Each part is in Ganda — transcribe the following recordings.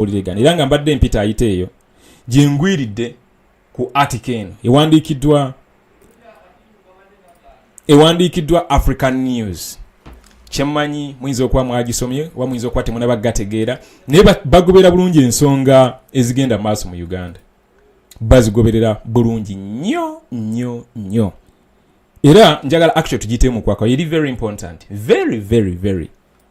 oliregana era nga mbadde mpita ayita eyo gyengwiridde ku atika eno ewandiikiddwa ewandiikiddwa african news kyemmanyi muyinza okuba mwagisomye oba muyinza okuba temunaba gategeera naye bagoberera bulungi ensonga ezigenda mu maaso mu uganda bazigoberera bulungi nnyo nnyo nnyo era njagala actual tugitemukwako eri very important very very very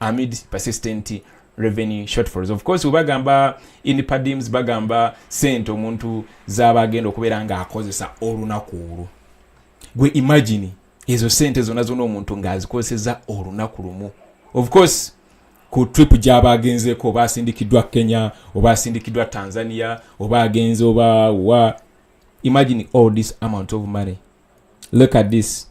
amid persistent revenue shortfalls of course webagamba in padims bagamba sente omuntu zaba agenda okubeera nga akozesa olunaku olwo gwe imagine ezo sente zona zona omuntu ngaazikozeseza olunaku lumu of course ku trip gyaba agenzeko oba asindikiddwa kenya oba asindikiddwa tanzania oba agenze oba wa imagine all this amount of money look at this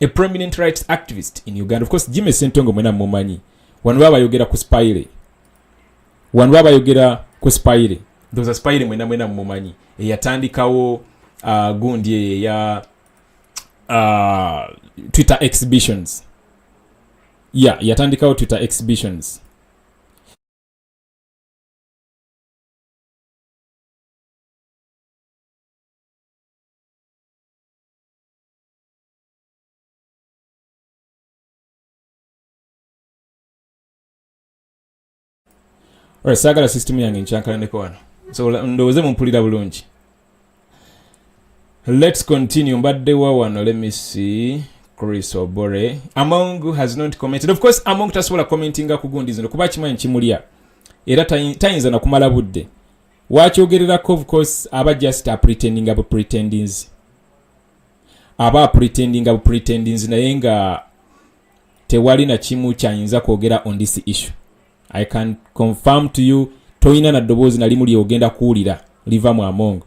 a prominent rights activist in uganda of course jimmy sentongo mwena mumanyi wano baba bayogera ku spire wano baba bayogera ku spire ndoza spire mwena mwena mumanyi eyatandikawo uh, gundi eyo eya uh, twitter exhibitions ya yeah, yatandikawo twitter exhibitions Alright, saagala system yange nkyankalaneko wano so ndowooze mumpulira bulungi let's continue mbadde wa wano let me see chris obore among has not commented of course among tasobola commentinga ku gundi zino kuba kimanyi kimulya era tayinza nakumala budde wakyogererako of course aba just apretendinga bu pretendings aba apretendinga bupretendinzi naye nga tewali na kimu kyayinza kwogera on this issue i can confirm to you tolina na ddoboozi nalimu lyogenda kuwulira liva mu amongo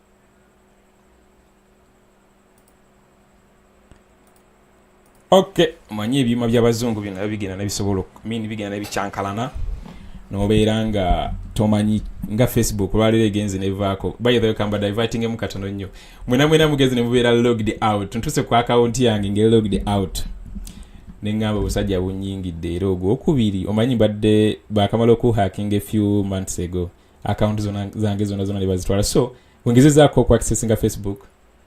okay omanyi ebyuma byabazungu bino nabyo bigenda nabisobola min bigenda nabikyankalana nobeera nga tomanyi nga facebook olwaleero egenze nevaako bythekamba divertingemu katono nnyo mwena mwena mugenze nemubeera logged out ntuse ku akawunti yange ngeri logged out neŋamba obusajja bunyingidde era ogwokubiri omanyi mbadde bakamala okuhakinga efew months ago akawunti zona zange zona zona nebazitwala so wengezezaako okuaccessinga facebook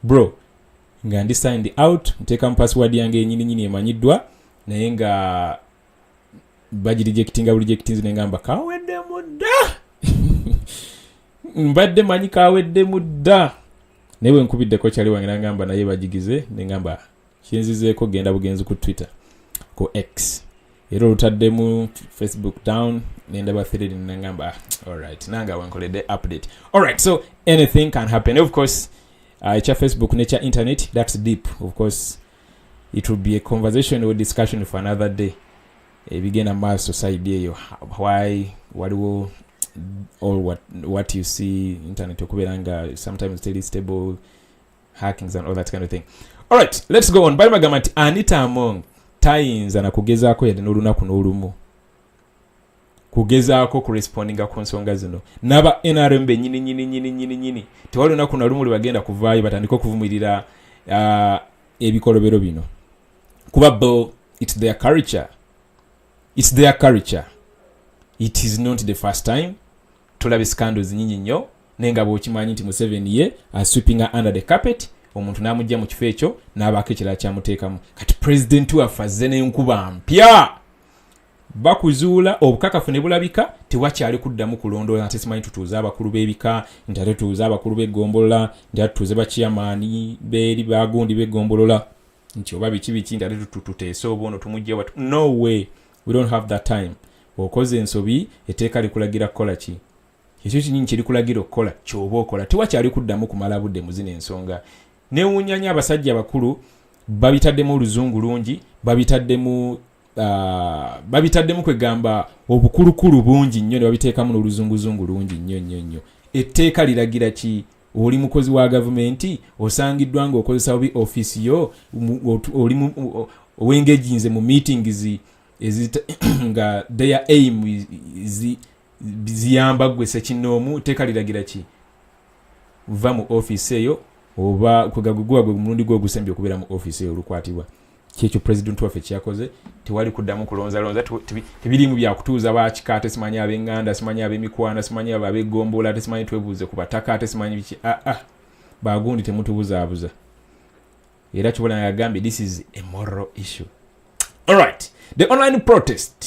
bro nga ndi signed out nteeka mu password yange yenyininyini emanyiddwa naye nga bagirejectinga burejectinzi nengamba kaweddemu dda mbadde manyi kaweddemu dda naye wenkubiddeko kyali wange nangamba naye bagigize nengamba kinzizeeko genda bugenzi ku twitter ku x era olutaddemu facebook down nendaba thread nengamba ah, alright nange awenkoledde update alright so anything can happen of course uh, ekya facebook nekya internet that's deep of course it will be a conversation or discussion for another day ebigenda eh, maaso side eyo why waliwo all what, what you see internet okubeera nga sometimes teli stable hackings and all that kind of thing alright let's go on bali bagamba nti anita among tayinza na kugezaako yadde n'olunaku n'olumu kugezaako kurespondinga ku nsonga zino naba nrm benyini nyini nyini nyini nyini tewali lunaku na lumu lwebagenda kuvaayo batandika okuvumirira uh, ebikolobero bino kuba bo its their culture its their culture it is not the first time tulabe scandals nyinyi nnyo naye nga bwokimanyi nti museveni ye aswipinga uh, under the carpet omuntu n'amugja mu kifo ekyo n'abaako ekirala kyamuteekamu kati pulezidenti waffe azze n'enkuba mpya bakuzuula obukakafu ne bulabika tewakyali kuddamu kulondoola nti simanyi tutuuze abakulu b'ebika nti ate tuuze abakulu b'eggombolola nti ate tutuuze bakiyamaani beeri bagundi b'eggombolola nti oba biki biki nti ate tuteese oba ono tumugja watu no way we don't have that time okoze ensobi eteeka likulagira kukola ki ekyo kinyini kyerikulagira okukola kyoba okola tewakyali kuddamu kumala budde mu zino ensonga newunyanya abasajja abakulu babitaddemu oluzungu lungi babitaddemu uh, babitaddemu kwegamba obukulukulu bungi nnyo nebabiteekamu n'oluzunguzungu lungi nnyo nnyo nnyo etteeka liragira ki oli mukozi wa gavumenti osangiddwa nga okozesa obi ofiisi yo oli owengejinze mu meetings nga their aim is, is ziyamba gwe sekinoomu teeka liragira ki va mu ofiisi eyo oba kwegaguguwa gwe mulundi gwe ogusembye okubeera mu ofiisi eyo olukwatibwa kyekyo president waffe kyeyakoze tewali kuddamu kulonzalonza tebirimu byakutuuza bakika ate simanyi abenganda simanyi abemikwana simanyi abo abegomboola ate simanyi twebuuze ku bataka ate simanyi biki aa ah, ah, bagundi temutubuzaabuza era kyobola yagambye this is a moral issue alright the online protest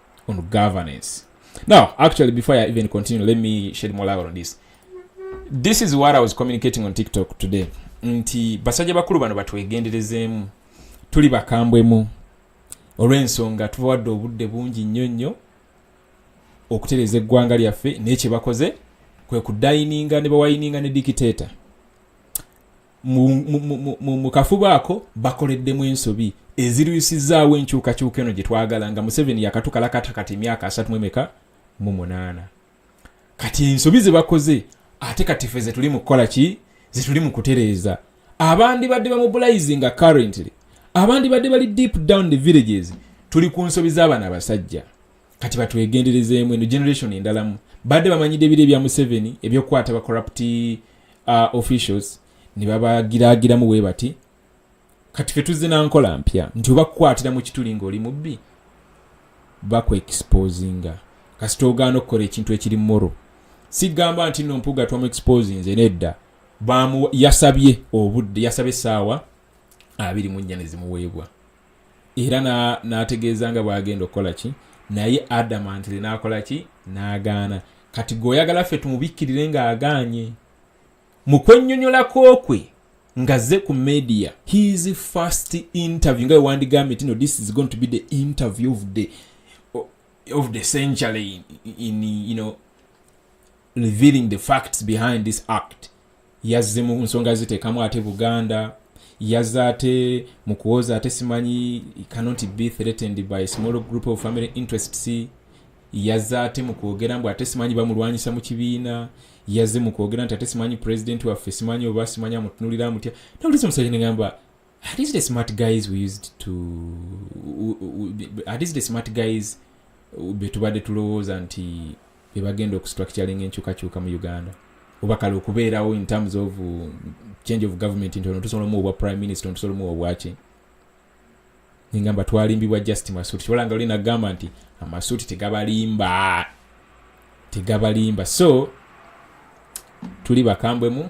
on governance. Now, actually, before I even continue, let me shed more light on this. This is what I was communicating on TikTok today. Nti basajja bakulu bano batwegenderezeemu tuli bakambwemu olw'ensonga tubawadde obudde bungi nnyo nnyo okutereeza eggwanga lyaffe naye kye bakoze kwe kudayininga ne bawayininga ne dikiteeta mu kafubo ako bakoleddemu ensobi ezirwisizaawo enkyukakyuka eno gye twagala nga museveni yakatukalakata kati emyaka asatu mwemeka mu munaana kati ensobi ze bakoze ate kati fe zetuli mu kukola ki zetuli mu kutereeza abandibadde bamubulayizi nga currently abandibadde bali deep down the villages tuli ku nsobi z'abana abasajja kati batwegenderezeemu eno generation endalamu badde bamanyidde ebiro ebya museveni ebyokukwata ba corrupt uh, officials ne babagiraagiramu bwe bati kati fe tuzze nankola mpya nti oba kukwatira mu kituli ng'oli mubbi bakuexposinga kasita ogaana okukola ekintu ekiri moro sigamba nti no mpuga twamu exposinze nedda yasabye obudde yasabye essaawa abiri mu nnya ne zimuweebwa era n'ategeeza nga bw'agenda okukola ki naye adamantire n'akola ki n'agaana kati gwe oyagala ffe tumubikkirire ng'agaanye mu kwennyonyolako kwe ngaze ku media his first interview nga wewandigambye tino this is going to be the interview of the, of the century in, in, you know, revealing the facts behind this act yazze mu nsonga ziteekamu ate buganda yazze ate mu kuwoza ate simanyi cannot be threatened by a small group of family interests yazze ate mu kwogera mbu ate simanyi bamulwanyisa mu kibiina yazze mu kwogera nti ate simanyi president waffe simanyi oba simanyi amutunulira amutya nawuliza omusajja negamba at least the smart guys we used to at least the smart guys betubadde tulowooza nti bebagenda okustructuringa enkyukakyuka mu uganda oba kale okubeerawo in terms of uh, change of government nti ono tusobola omuwa obwa prime minister ono tusobola omuwa obwaki nengamba twalimbibwa just masuuti kibola nga olina gamba nti amasuuti tegabalimba tegabalimba so tuli bakambwemu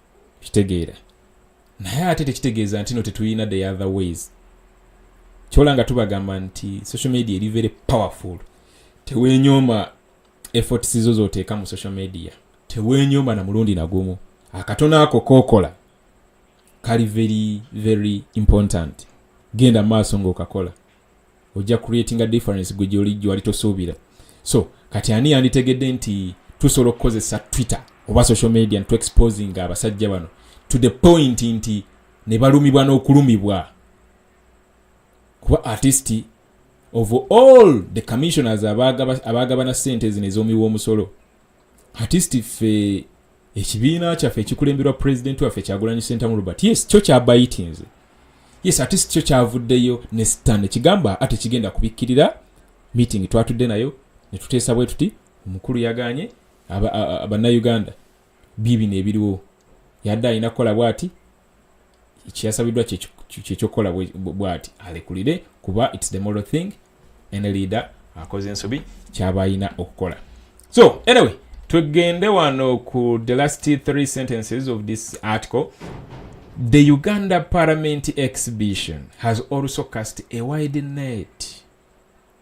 kitegeera naye ate tekitegeeza nti no tetulina the other ways kyola nga tubagamba nti social media eri very powerful tewenyooma efforts zo zoteeka mu social media tewenyooma na mulundi nagumu akatono ako kokola kali very very important genda maaso ngaokakola ojja creatinga difference gwe gyoli gyewali tosuubira so kati ani yanditegedde nti tusobola okukozesa twitter oba social media ntu exposing abasajja bano to the point nti ne balumibwa n'okulumibwa kuba artist of all the commissioners abaagabana sente zino ez'omiwa omusolo artist ffe ekibiina kyaffe ekikulemberwa pulezidenti waffe kyagulanyi sentamu robert yes kyo kyabayitinze yes ate sikyo kyavuddeyo ne stan ekigamba ate kigenda kubikkirira meeting twatudde nayo ne tuteesa bwe tuti omukulu yaganye bannayuganda bibino ebiriwo yadde alina kukola bwati kyeyasabiddwa kyekyokukola bwati alekulire kuba its the moral thing any leader akoze ensobi kyaba ayina okukola so anyway twegende wano ku the last three sentences of this article the uganda parliament exhibition has also cast a wide net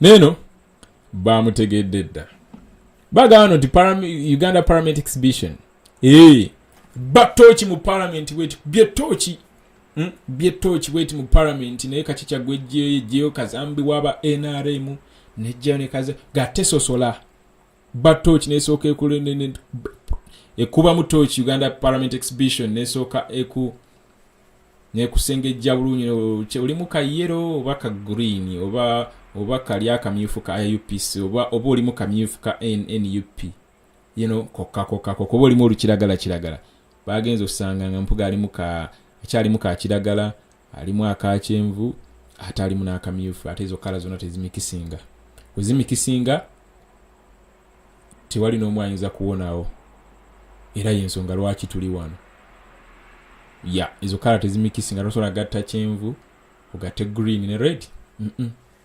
neeno bamutegedde dda bagamba nti uganda parliament exhibition ee batooki mu palamenti bweti byetooki hmm? byetooki bweti mu palamenti naye kaki kyagwa ejjeyo ejjeyo kazambi waba nrm nejjayo nekaza gatesosola ba torch nesooka ekubamu torch uganda parliament exhibition nesooka eku nekusengejja bulungi olimu ka yero oba ka green oba oba kali akamyufu ka upc oba oba olimu kamyufu ka nup yino kokkakokako kuba olimu olukiragala kiragala bagenza osanga nga mpuga alimu ka akyalimu ka kiragala alimu akakyenvu ate alimu n'akamyufu ate ezo kala zonna tezimikisinga wezimikisinga tewali n'omu ayinza kuwonawo era yensonga lwaki tuli wano ya ezo kala tezimikisinga tosobola gatta kyenvu ogatte green ne red mm -mm.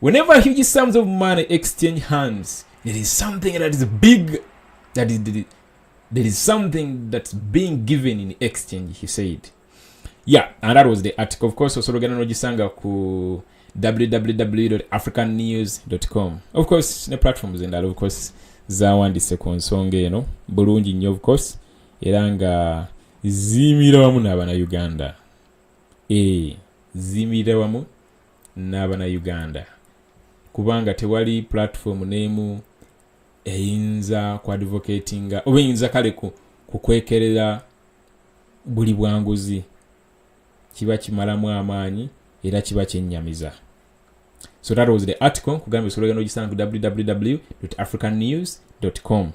Whenever huge sums of money exchange hands, there is something that is big, that is, there is something that's being given in exchange, he said. Yeah, and that was the article. Of course, Osologana Nojisanga ku www.africannews.com. Of course, ne platforms and that, of course, zaawandise ku nsonga eno bulungi nnyo of course era nga ziimira wamu n'abana uganda e eh, ziimira wamu n'abanauganda kubanga tewali platform n'emu eyinza ku advocatinga oba eyinza kale kukwekerera buli bwanguzi kiba kimalamu amaanyi era kiba kyennyamiza so that was the article nkugambye osobola ogenda ogisanga ku www african news com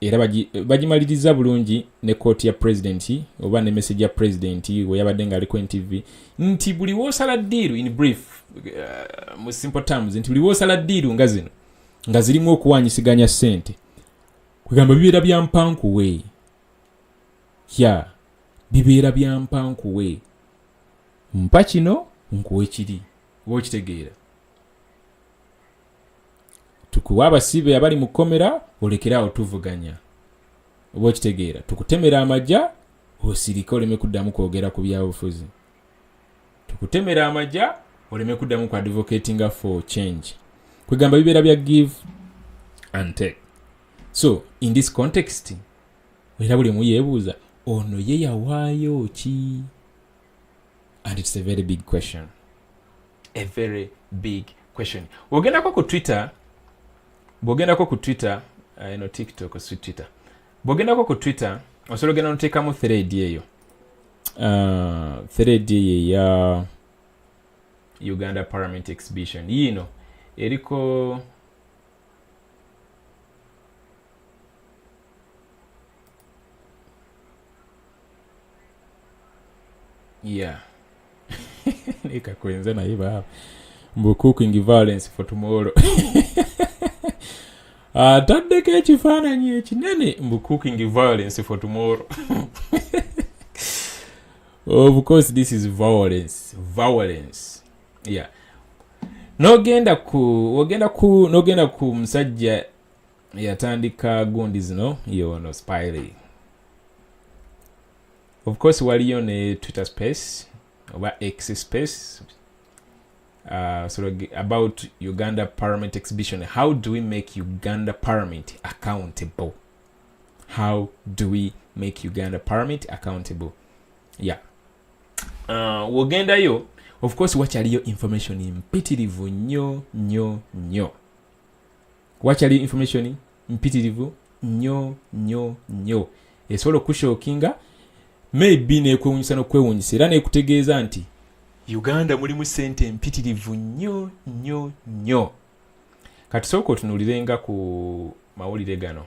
era bagimaliriza bulungi ne kooti ya pulezidenti oba ne message ya pulezidenti we yabadde ng'aliko ntv nti buli woosala ddiiru in brief uh, mu simple terms nti buli woosala ddiiru nga zino nga zirimu okuwanyisiganya ssente kwegamba bibeera bya mpankuwe ya bibeera bya mpankuwe mpa kino nkuwe kiri oba okitegeera tukuwa abasibe abali mu kkomera olekere awo tuvuganya oba okitegeera tukutemera amagya osirike oleme kuddamu kwogera ku byabufuzi tukutemera amagya oleme kuddamu ku advocatinga for change kwegamba bibeera bya give and take so in this context era buli muyeebuuza ono ye yawaayo ki and it's a very big question a very big question bwogendako ku twitter bwogendako ku twitter uh, ino tiktok si twitter bwogendako ku twitter osobola ogenda noteekamu thread eyo uh, thread eyo eya uganda parliament exhibition yiino eriko yeah ekakwenza naye baaba mbu cooking violence for tomorrow ataddeko ah, ekifaananyi ekinene mbu cooking violence for tomorrow of course this is violence violence yeah nogenda ku ogenda ku nogenda ku musajja eyatandika gundi zino yono spiley of course waliyo ne twitter space oba x space uh, sort of about uganda parliament exhibition how do we make uganda parliament accountable how do we make uganda parliament accountable yeah uh, wogendayo of course wakyaliyo information mpitirivu nnyo nnyo nnyo wakyali information mpitirivu nnyo nnyo nnyo esobola okushookinga maybe nekwewunyisa nokwewunyisa era nekutegeeza nti uganda mulimu sente mpitirivu nnyo nnyo nnyo katusooka otunuulirenga ku mawulire gano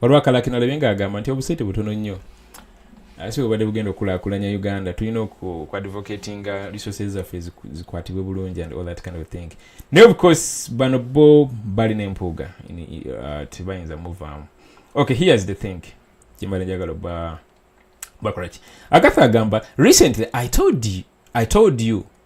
waliwo akalakina olebe nga agamba nti obusente butono nnyo ate bwebadde bugenda okukulakulanya uganda tulina okuadvocatinga resources zaffe zikwatibwe bulungi and all that kind of thing naye of course bano bo balina empuuga uh, tebayinza muvaamu ok here's the thing kyembala njagala oba bakolaki agatha agamba recently i told you, I told you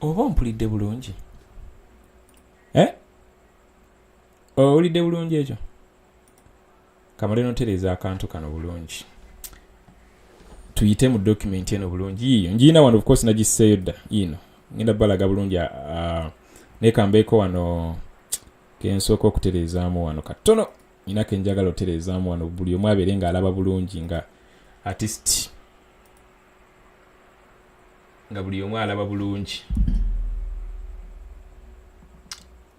oba ompulidde bulungi eh? owulidde bulungi ekyo kamale notereeza akantu kano bulungi tuyite mu dokumenti eno bulungi yiyo njiina wano ofcourse nagisseeyo dda yiino ngenda balaga bulungi ah, ah, nekambeeko wano kensooka okutereezaamu wano katono nina kenjagala otereezaamu wano buli omu abeere ng'alaba bulungi nga artist nga buli omu alaba bulungi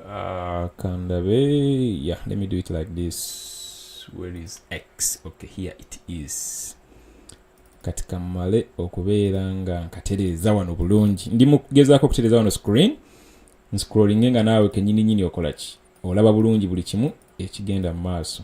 ah, kandabe yeah let me do it like this where is x okay here it is kati kammale okubeera nga nkatereeza wano bulungi ndi mukugezaako okutereeza wano screen nscrollinge nga naawe kenyini nyini okola ki olaba bulungi buli kimu ekigenda mu maaso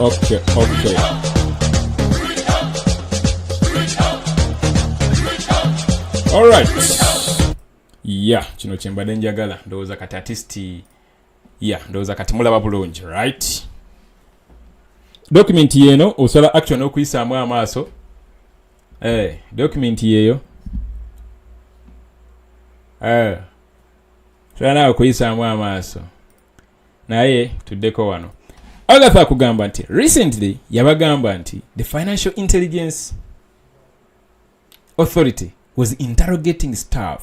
okay, okay. Alright. Yeah, kino kyembadde njagala ndowooza kati atisti ya ndowooza kati mulaba bulungi right dokumenti yeeno osobola action okuyisaamu amaaso eh, dokumenti yeeyo eh, osobola naawe okuyisaamu amaaso naye tuddeko wano agatha akugamba nti recently yabagamba nti the financial intelligence authority was interrogating staff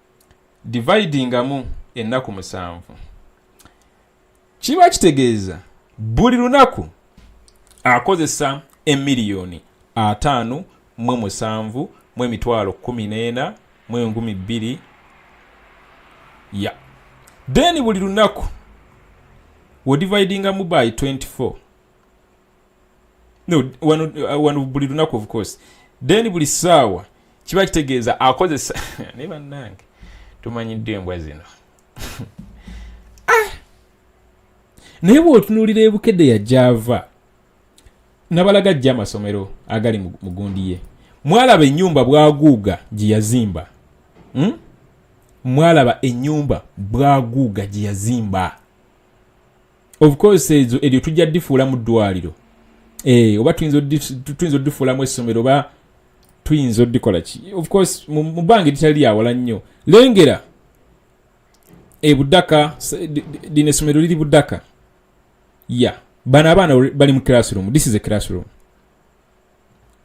dividingamu ennaku musanvu kiba kitegeeza buli lunaku akozesa emiliyoni ataano mu musanvu mu emitwalo kumi n'ena mu enkumi bbiri ya then buli lunaku wodividingamu by 24 wano uh, buli lunaku of course then buli saawa kiba kitegeeza akozesa naye bannange tumanyidde embwa zino ah! naye bwotunuulira ebukede yajava nabalaga jja amasomero agali mugundi ye mwalaba enyumba bwaguuga gyeyazimba hmm? mwalaba enyumba bwaguuga gyeyazimba of course ezo eryo tujja difuula mu ddwaliro eh, oba tuyinza odifuulamu essomero oba tuyinza odikola ki of course mu bbanga eritali lyawala nnyo lengera ebudaka lino essomero liri budaka ya bano abaana bali mu classroom this is a classroom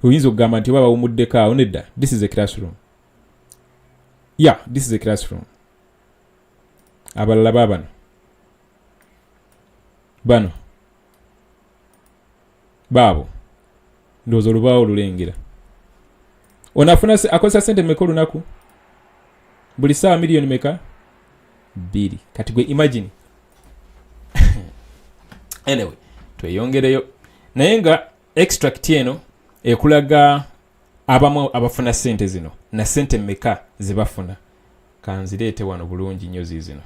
oyinza okugamba nti oba bawumuddeko awo nedda this is a classroom ya this is a classroom abalala babano bano baabo ndowooza olubaawo olulengera onafuna akozesa sente meka olunaku buli saawa miliyoni meka bbiri kati gwe imagine anyway tweyongereyo naye nga extract eno ekulaga abamu abafuna sente zino na sente meka zebafuna kanzireete wano bulungi nnyo ziizino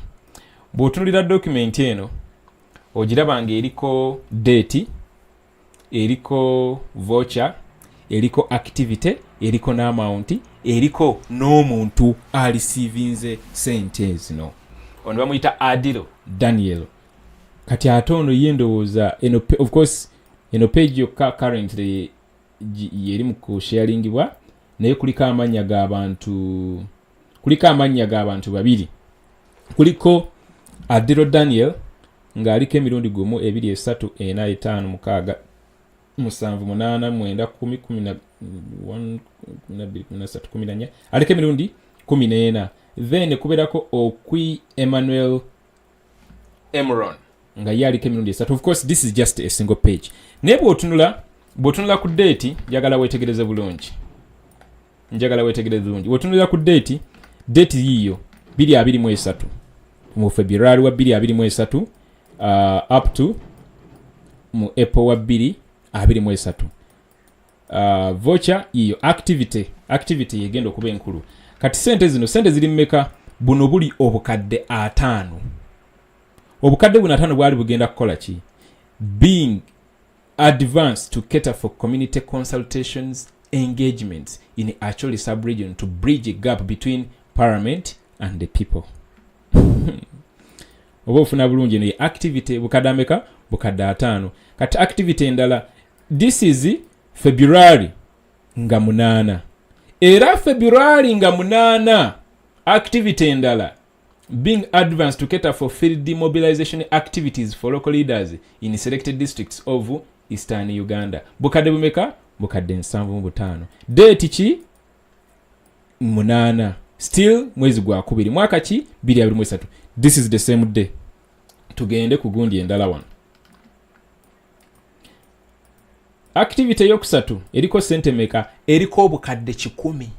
bw'otunulira dokumenti eno ogiraba nga eriko deeti eriko voca eriko activity eriko n'amaunti eriko n'omuntu alisiivinze sente zino ono bamuyita adiro daniel kati ate ono ye ndowooza eno of course eno page yokka currently yeri mu kusharingibwa naye kuliko amannya g'abantu kuliko amannya g'abantu babiri kuliko adiro daniel ng'aliko emirundi gumu ebiri esatu ena etaano mukaaga musanvu munaana mwenda kumi kumi nabirikuminasatu kumi nanya aliko emirundi kumi n'ena then kubeerako okwi emmanuel emron nga ye aliko emirundi esatu of course this is just a single page naye bwotunula bwotunula ku deeti njagala wetegereze bulungi njagala wetegereze bulungi bwotunulira ku deeti deeti yiyo biri abiri mu esatu mu february wa biri abiri mu esatu uh, up to mu apple wa biri abiri mu esatu uh, vocha yiyo activity activity yegenda okuba enkulu kati sente zino sente ziri mumeka buno buli obukadde ataano obukadde buno ataano bwali bugenda kukola ki being advance to cater for community consultations engagements in actually subregion to bridge a gap between parliament and the people oba ofuna bulungi eno ye activity bukadde ameka bukadde ataano kati activity endala this is february nga munaana era february nga munaana activity endala being advanced to cater for field demobilization activities for local leaders in selected districts of eastern uganda bukadde bumeka bukadde nsanvu mu butaano deeti ki munaana still mwezi gwakubiri mwaka ki biri abiri mwesatu this is the same day tugende ku gundi endala wano activity eyokusatu eriko sente meka eriko obukadde kikumi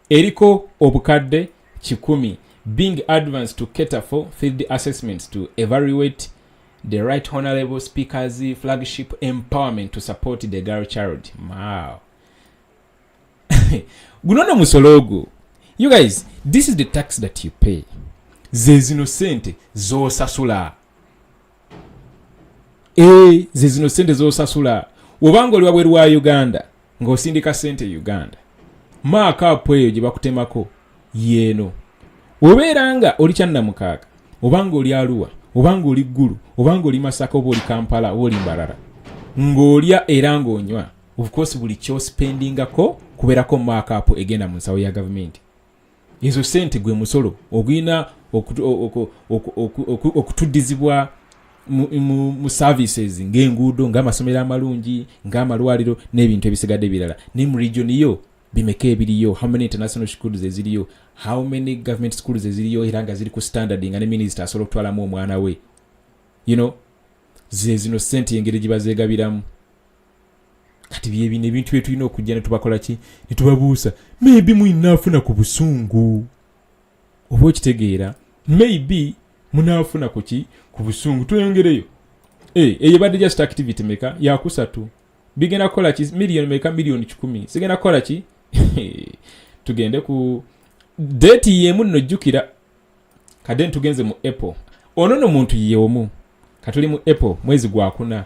eriko obukadde kikumi being advance to cater for field assessments to evaluate the right honorable speakers flagship empowerment to support the girl child wow guno no musolo ogwo you guys this is the tax that you pay zezino sente zosasula eh, ze zino sente zosasula wobanga oli wabweru wa uganda ng'osindika sente e uganda maakaapu eyo gye bakutemako yeeno obeera nga oli kyannamukaaga obanga oli aluwa obanga oli ggulu obanga oli masaka oba oli kampala oba oli mbarara ng'olya era ng'onywa ofcourse buli kyosipendingako kubeerako maakaapu egenda mu nsawo ya gavumenti ezo sente gwe musolo ogulina okutuddizibwa mu services ngaenguudo ngaamasomero amalungi ngaamalwaliro n'ebintu ebisigadde ebirala naye mu region yo bimeka ebiriyo how many international schools eziriyo how many government schools eziriyo era nga ziri ku standard nga ne minisita asobola okutwalamu omwana we you know zezino sente engeri gye bazegabiramu kati byebino ebintu byetulina okujja netubakola ki netubabuusa maybe muinaafuna ku busungu oba okitegeera maybe munaafuna ku ki ku busungu tweyongereyo eh, eyo ebadde just activity meka yakusatu bigenda kukola ki miliyoni meka miliyoni kikumi sigenda kukola ki tugende ku deeti yemu nno jjukira kadde nitugenze mu apple ono no muntu yeomu katuli mu apple mwezi gwakuna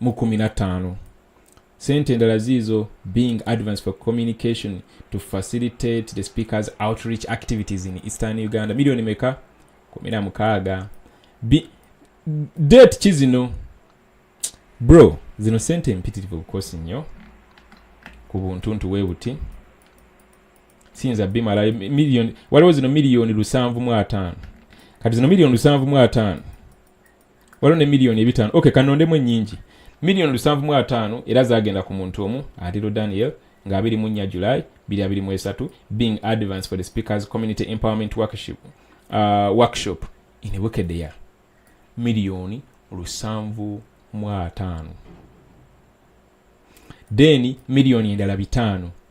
mu 15 sente endala ziizo being advance for communication to facilitate the speakers outreach activities in eastern uganda milioni meka 16 date kizino bro zino sente empitirivu bukosi nnyo ku buntuntu we buti siyinza bimala waliwo zino miliyoni lusanvu mu ataano kati zino miliyoni lusanvu mu ataano waliwo ne miliyoni ebitaano ok kanondemu ennyingi miliyoni lusanvu mu ataano era zagenda ku muntu omu atiro daniel nga abiri mu nnya july biri abiri mu esatu being advance for the speakers community empowerment workshop, uh, workshop in bukedea miliyoni lusanvu mu ataano then miliyoni endala bitaano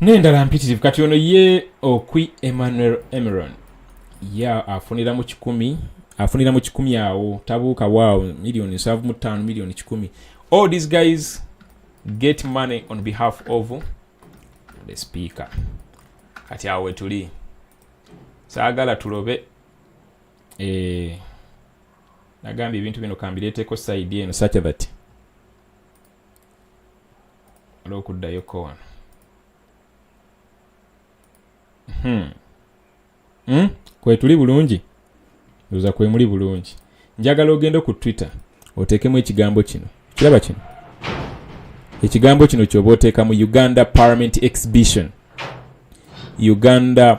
n'endala mpitirivu kati ono ye okwi emmanuel emeron ye afunira mu kikumi afunira mu kikumi awo tabuuka waawo miliyoni nsanvu mu ttaano miliyoni kikumi all these guys get money on behalf of the speaker kati awo wetuli saagala tulobe eh, nagambye ebintu bino kambireeteko saidi eno such that waliwo okuddayo ko wano hmm. Hmm? kwetuli bulungi oza kwemuli bulungi njagala ogende ku twitter oteekemu ekigambo kino kiraba kino ekigambo kino kyoba oteeka mu uganda parliament exhibition uganda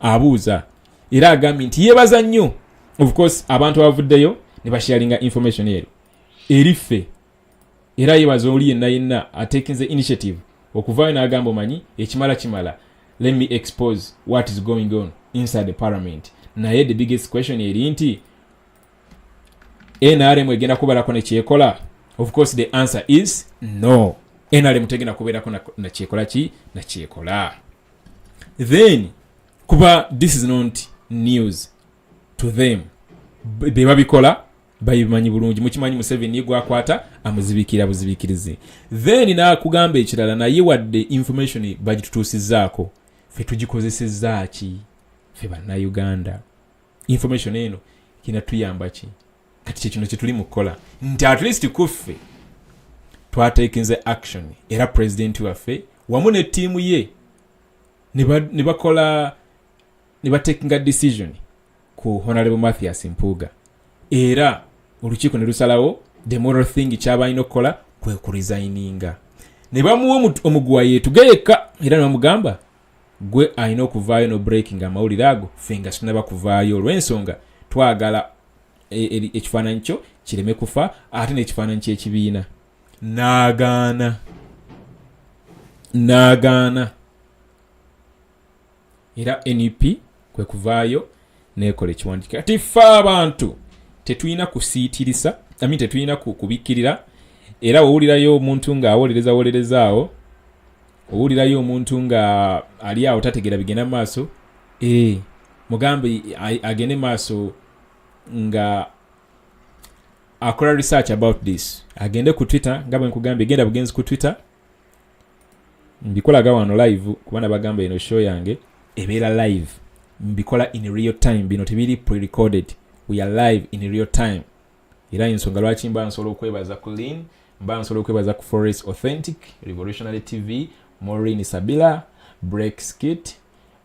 abuuza era agambye nti yebaza nnyo of course abantu abavuddeyo ne basharinga information eyo eri ffe era yebaza oli yenna yenna atekinze initiative okuvaayo n'agamba omanyi ekimala kimala let me expose what is going on inside the parliament naye the biggest question eri nti nrm egenda kubalako nekyekola of course the answer is no nrm tegenda kubeerako nakyekola ki nakyekola then kuba this is not news to them bebabikola babimanyi bulungi mukimanyi museveni gwakwata amuzibikira buzibikirize then nakugamba ekirala naye wadde information bagitutuusizaako fe tugikozesezaaki fe bannauganda information eno kinatuyambaki kati kyekino kyetuli mu kukola nti at least kuffe twatekinze action era pulezidenti waffe wamu ne ttiimu ye ne bakola ne batekinga decision ku honalebo mathias mpuuga era olukiiko ne lusalawo the moral thing kyaba alina okukola kwe kurisayininga ne bamuwa omuguwa yeetuge yekka era ne bamugamba gwe alina okuvaayo no breaking amawulire ago ffe nga sinaba kuvaayo olw'ensonga twagala e, e, ekifaananyi kyo kireme kufa ate n'ekifaananyi ky'ekibiina n'agaana n'agaana era nup kwe kuvaayo nekola ekiwandiika kati ffe abantu tetulina kusiitirisa ami tetulina kubikkirira era wowulirayo omuntu ng'awolereza wolerezaawo owulirayo omuntu nga ali awo tategeera bigenda mu maaso e, mugambe agende maaso nga akola research about this agende ku twitter nga bwe nkugambye genda bugenzi ku twitter mbikolaga wano live kuba nabagamba eno show yange ebeera live mbikola in real time bino tebiri prerecorded we are live in real time era ensonga lwaki mba nsobola okwebaza ku lin mba nsobola okwebaza ku forest authentic revolutionary tv morin sabila break skit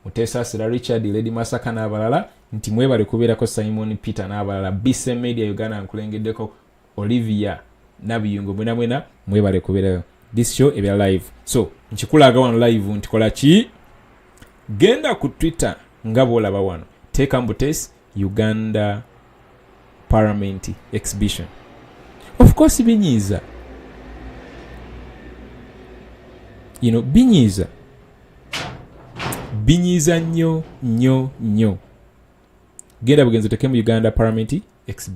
mutesasira richard lady masaka n'abalala nti mwebale kubeerako simon peter n'abalala bc media uganda nkulengeddeko olivia nabiyungo mwena mwena mwebale kubeerayo this show ebya live so nkikulaga wano live ntikola ki genda ku twitter nga bwolaba wano teeka mbu tesi uganda parliament exhibition of course binyiiza you know binyiiza binyiiza nnyo nnyo nnyo genda bugenzi otekemu uganda parliament exhibition